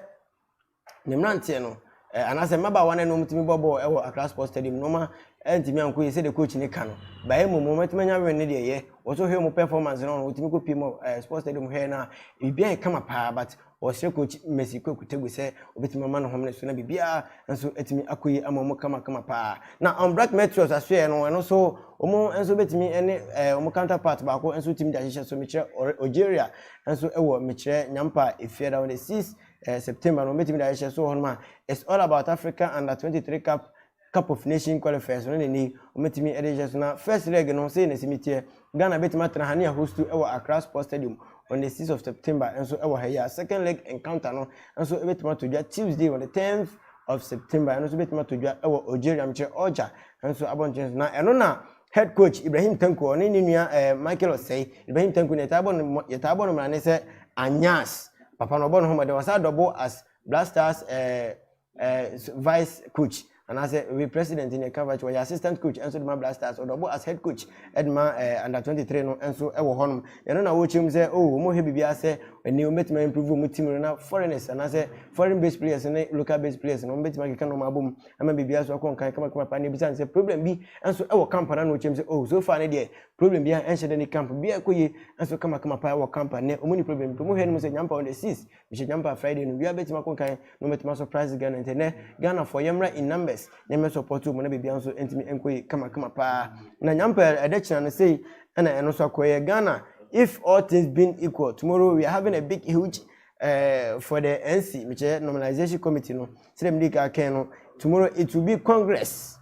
ne mmeranteɛ no eh, anaasɛ mmabaawa no ɛnom tumi bɔ bɔɔl wɔ Accra Sports Stadium na ɔma ntumi anko yɛ sɛ de coach ne ka no baɛ mmom wɔn atumi anya wɛn ne deɛ yɛ wɔn nso hwɛ wɔn performance no wɔn tumi kɔ pie mu eh, Sports Stadium hwɛ no a biribiara yɛ kama paa but Wɔsrɛ Coach Mercy Kwaku Tegu sɛ obetumi ama no homene so na biribiara nso atumi akɔ yie ama wɔn kamakama paa. Na Unbrack Meteors asoɛeɛ no, ɛno nso wɔn nso bɛtumi ne eh, wɔn counterpart baako nso tumi de ahyehyɛ so mekyerɛ ɔre- Algeria nso wɔ mekyerɛ Nyampa Efiada on the 6 eh, September no wɔbɛtumi de ahyehyɛ so wɔ hɔnom a it's all about Africa Under 23 Cup Cup of Nation qualifiers no na ɛnɛ yi wɔatumi de rehyɛ so. Na first leg no sɛ na ɛsi mi teɛ, Ghana bɛtumi atena ha ne ahostu wɔ Accra Sports Stadium on the 6th of September nso wɔ ha yi a second leg encounter no nso bɛtumi atɔ dwa Tuesday on the 10th of September ɛno nso bɛtumi atɔ dwa wɔ Algeria mekyerɛ Alger nso abɔnten so na ɛno na head coach Ibrahim Tanko ɔne ne nua eh, Michael Osei Ibrahim Tanko ne yɛtaa bɔ no yɛtaa bɔ no mmara ne sɛ Anyas papa no ɔbɔ no ho mmɔden ɔsan dɔbo as Black Stars eh, eh, vice coach anaasɛ ɔyɛ president ne ɛka vice ɔyɛ assistant coach ɛnso de ma black stars ɔde ɔbɔ as head coach ɛde ma eh, under 23 no ɛnso ɛwɔ hɔnom ɛno na wɔkyerɛ mu sɛ oh wɔn hwɛ biribiara sɛ ɛni wɔn bɛtumi improve wɔn team no na foreigners anaasɛ foreign based players ne local based players no wɔn bɛtumi akeka nɔɔma abɔ mu ama biribiara so akɔ nkan kamakama paa na ebisa ne sɛ problem bi ɛnso ɛwɔ camp na na wɔkyerɛ mu sɛ oh so far ne deɛ problem bi a ɛnhyɛ dɛ ne camp bi ɛkɔ yie ɛnso kamakama paa ɛwɔ camp ne wɔn ni problem bi wɔn hwɛ no mu sɛ nyampa wɔn de six mehyɛ jumper a friday no wia bɛtumi akɔ kan na ɔmɛtumi surprise ghana nti nɛ ghana fɔ yɛmmra in numbers na yɛmmɛ support mu na biribiara nso ntumi nkɔ yi kamakama paa na nyampa ɛdɛ kyena no sei ɛna ɛno nso akɔyɛ ghana if all things being equal tomorrow we are having a big huge uh, for the nc mekyɛ normalization committee no sɛdɛ mede ka kɛn no tomorrow it will be congress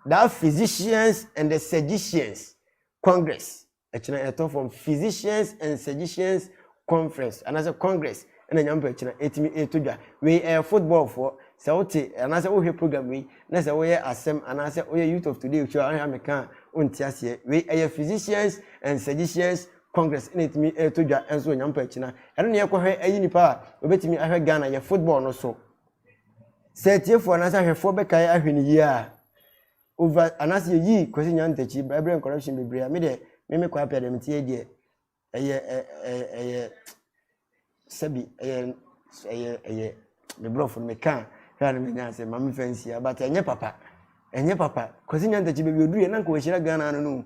that physicians and the surgicians congress ɛkyena ɛtɔ fam physicians and surgicians conference anaasɛ congress ɛna nya mpa ɛkyena ɛtumi ɛtɔ dwa wei ɛyɛ football foɔ sɛ wote anaasɛ wohwɛ program wei na sɛ woyɛ asɛm anaasɛ woyɛ youth of today show ahwɛ ameka a wonte aseɛ wei ɛyɛ physicians and surgicians congress ɛna ɛtumi ɛtɔ dwa ɛnso wɔ nya mpa ɛkyena ɛno ne yɛkɔhwɛ ɛyi nipa a obɛtumi ahwɛ Ghana yɛ football no so sɛ atiefoɔ anaasɛ ahwɛfoɔ bɛkae ahwɛ ne yie a over anaasɛ yɛyii Kwasi Nyan Takyi ba ɛberɛ corruption bebree a me deɛ me me Kwapia deɛ meteɛ deɛ ɛyɛ ɛyɛ sɛbi ɛyɛ ɛyɛ ɛyɛ me borɔfo no meka hwɛ a no menya ase ma memfa nsia but ɛnyɛ papa ɛnyɛ papa Kwasi Nyan Takyi baabi ɔduru yɛ na nka wɔahyira Ghana no no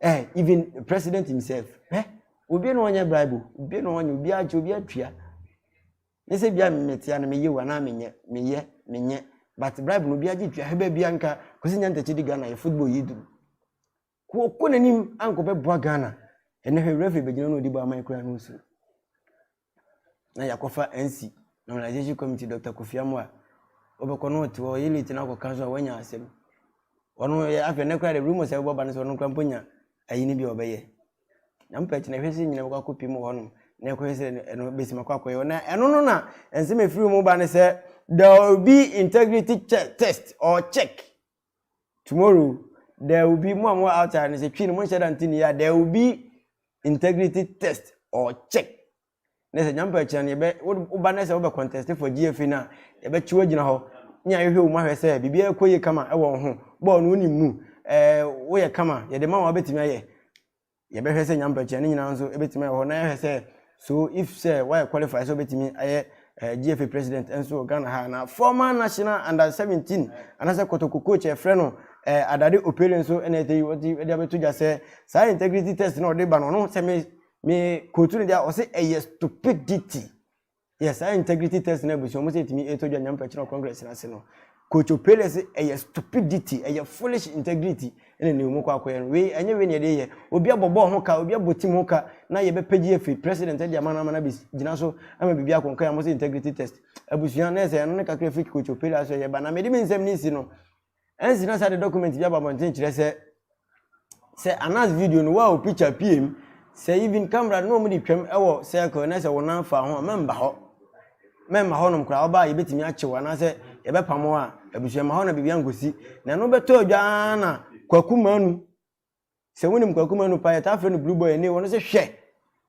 eh even president himself eh obi na ɔnyɛ bribe obi na ɔnyɛ obi akyɛ obi atua Ne sɛ bia metia no meyɛ o anaa menyɛ meyɛ menyɛ but bribe no bia gye tua hɛbɛ bia nka kwasi nya ntɛkyi di Ghana yɛ football yi duru kɔkɔ n'anim ankɔ bɛboa Ghana ɛnɛ hwɛ referee bɛgyina no ɔdi bɔ aman kura no nsuro na yakɔfa NC normalization committee Dr. Kofi Amoa wɔbɛkɔ no ɔte hɔ yɛ late no akɔka so a wanya asɛm ɔno afei ɛnɛ kora de rumors a ɛbɛbɔ ba no sɛ ɔno kora mpo nya ayi no bi a ɔbɛyɛ Na mopɛ akyi no, ɛhwɛ sɛ nyina bɛkɔ akɔpie mu wɔ hɔnom na ɛkɔhwɛ sɛ ɛno bɛtumi akɔ akɔyɛ na ɛno no na nsɛm ɛfiri mu ba ne sɛ there will be integrity check, test or check tomorrow there will be mo a mo outside no sɛ twi no monhyɛ da nte ne yɛ there will be integrity test or check na sɛ Nyankopɔn akyira no yɛbɛ woba na sɛ wobɛ contest for GFA no a yɛbɛkye wagyina hɔ ne ahwehwɛ wo mu ahwɛ sɛ biribiara ɛkɔ yie kama ɛwɔ wo ho bɔɔl no wonim mu ɛɛ woyɛ kama yɛde ma wo a wobɛtumi ayɛ yɛbɛhwɛ sɛ Nyankopɔn akyira ne nyinaa nso ɛbɛtumi ayɛ hɔ na yɛahwɛ sɛ so if sɛ woayɛ qualify sɛ wobɛtumi ayɛ eh, GFA president nso wɔ Ghana ha na former national under 17 anaasɛ kɔtɔkɔ coach ɛfrɛ no eh, Adade Opele nso ɛna ɛtɛ yi wɔde abɛto dwa sɛ saa integrity test na ɔde ba no ɔno sɛ me me kootu no deɛ ɔse ɛyɛ stupidity yɛ saa integrity test no abusua ɔmo sɛ ɛtumi ɛtɔ dwa nyame pɛkyerɛ congress no ase no kocho pele se ɛyɛ stupidity ɛyɛ foolish integrity ɛna ne mu kɔ akɔyɛ no wei ɛnyɛ wei ne yɛde yɛ obi abɔbɔ ho ka obi abɔ tim ho ka na yɛbɛpɛgye afiri president ɛde ama no ama no abɛgyina so ama biribi akɔnkɔ yɛ amo sɛ integrity test abusua na ɛsɛ ɛno ne kakra firi kocho pele aso yɛ ba na mede me nsɛm ne si no Ɛnse na saa de dɔkumɛnt bi aba abɔnten kyerɛ sɛ sɛ anas video no wow picture pm sɛ even camera no na wɔn de twam wɔ circle na sɛ wɔn nan fa ho a mɛmba hɔ mɛmma hɔnom koraa ɔbaa yɛbɛtumi akyew anaasɛ yɛbɛpamo a abusua ma hɔ na biribi ankɔsi na ɛno bɛtɔ adwa ara na kwaku manu Sɛ wonim Kwaku Manu paa, yɛtaa frɛ no Blue Boy Ene, ɔno se hwɛ!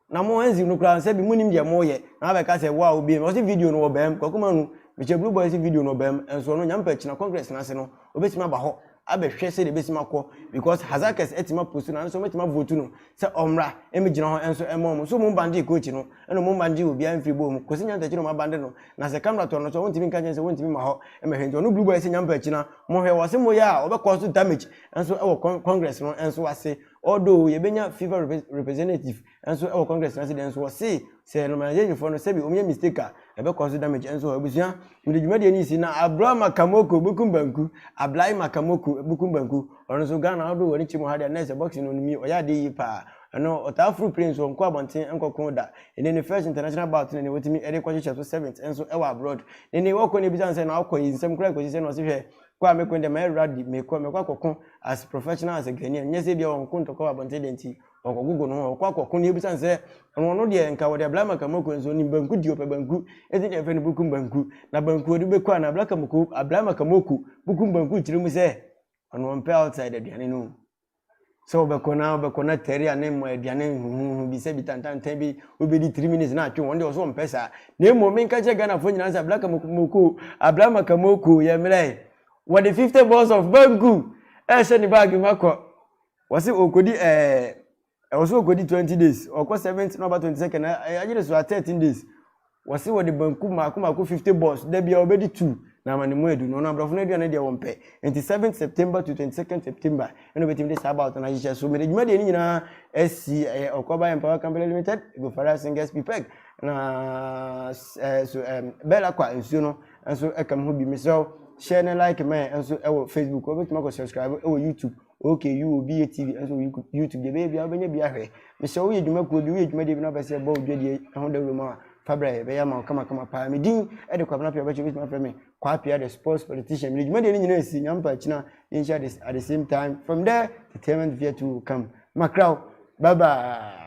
Na mo Hans no koraa sɛbi monim deɛ moyɛ na abɛka sɛ wo a wobiem no, ɔse video no wɔbɛm, Kwaku Manu, mekyɛ Blue Boy se video no wɔbɛm, nso ɔno Nyame pɛ a kyena Congress no ase no, ɔbɛtumi aba hɔ abɛhwɛ sɛdeɛ ɛbɛtumi akɔ, because Hazackers atumi apost no, anaasɛ wɔatumi avotu no sɛ ɔmmra mmɛgyina hɔ nso ɛmma wɔn, so mo mbangyee Coach no, ɛna mo mbangyee obiara mfiri bɔɔl mu, Kwasi Nyantakyi na wɔabande no, na sɛ camera tɔ no nso a wɔntumi nka nkyerɛ no sɛ wɔntumi mma hɔ mmɛhwɛ, nti ɔno Blue Boy se Nyame pɛ a kyena mohwɛ, wɔse moyɛ a wɔbɛcause damage, nso wɔ con congress no nso ase although yɛbɛnya fifa rep representative nso wɔ congress no ase deɛ nso wɔse sɛ normalization foɔ no sɛbi wɔnyɛ mistake a ɛbɛkɔ so damage nso hɔ abusua mede dwumadie no si na abra makamoko bukum banku ablae makamoko bukum banku ɔno nso ghana ɔdo wɔ ne kyɛ mu ha deɛ na ɛsɛ boxing no nimi ɔyɛ adeɛ yie paa ɛno ɔtaa furu plane so ɔnkɔ abɔnten nkɔko da ɛne ne first international bout ne ne wɔtumi ɛde kɔhyehyɛ so seventh nso ɛwɔ abroad ne ne wɔkɔ ne ebisa nsɛ na ɔkɔ yi nsɛm koraa kɔsi sɛ na ɔse hwɛ Kɔ a mekɔ yi deɛ mayɛ rugby, mekɔ, mɛkɔ akɔko as professional as a Ghanaian, nyɛ sɛ ebia ɔnko ntɔkwa wɔ abɔnten dɛn nti, ɔkɔgogo ne ho a, ɔkɔ akɔko na ebisa no sɛ, ɔno deɛ nka wɔde abla ama Kamoku nso onim banku di, ɔpɛ banku, enti deɛ yɛfrɛ no bukum banku, na banku ɔde bɛku anaa abla Kamoku, abla ama Kamoku, bukum banku kyerɛ mu sɛ, ɔno ɔmpɛ outside aduane no o. Sɛ wobɛkɔ na wobɛkɔ na tɛre a ne mmɔ aduane huhuhu bi sɛ bi tantantan bi wobɛdi three minutes na atwe wɔn deɛ ɔso ɔmpɛ saa na mmom menka kyerɛ Ghanafoɔ nyinaa sɛ Ablaka Moko Ablama Kamoko yɛ mmerɛ wɔde fifty balls of banku ɛhyɛ ne baage mu akɔ wɔse ɔkɔdi ɛɛ ɛwɔ so ɔkɔdi twenty days ɔkɔ seventh na ɔba twenty second ayere so a thirteen days Wɔse wɔde banku mmaako mmaako 50 bɔs da biara wɔbɛdi tu na ama ne mu adu na ɔno abrɔfo no aduane deɛ wɔmpɛ nti 7th September to 22nd September ɛna obɛtumi de saa bout no ahyehyɛ so mede dwumadie no nyinaa asi ɛyɛ Ɔkɔba Empower Company Limited Gofara Singers Pipeg na ɛɛ so ɛɛm Bella Kwa nsuo no nso ɛka mu ho bi mesrɛ wo hyɛ ne like mɛ nso ɛwɔ Facebook wɔbɛtumi akɔ subscribe ɛwɔ YouTube okay you obi yɛ tv ɛsɛ oyi youtube deɛ bɛyɛ bia wobɛnya bi ahwɛ mesɛ woyɛ dwuma kuo bi woyɛ dwuma deɛ bi na wopɛ sɛ ɛbɔ odwa deɛ ɛho dawuro mu a fa brɛ yɛbɛyɛ ama wo kamakama paa me din ɛde kwabena pia wobɛkyɛ wobɛtumi afrɛ me kwaa pia the sports politician mede dwuma deɛ no nyinaa asi nyampa akyina yɛnhyia this at the same time from there entertainment via to come makraw bye bye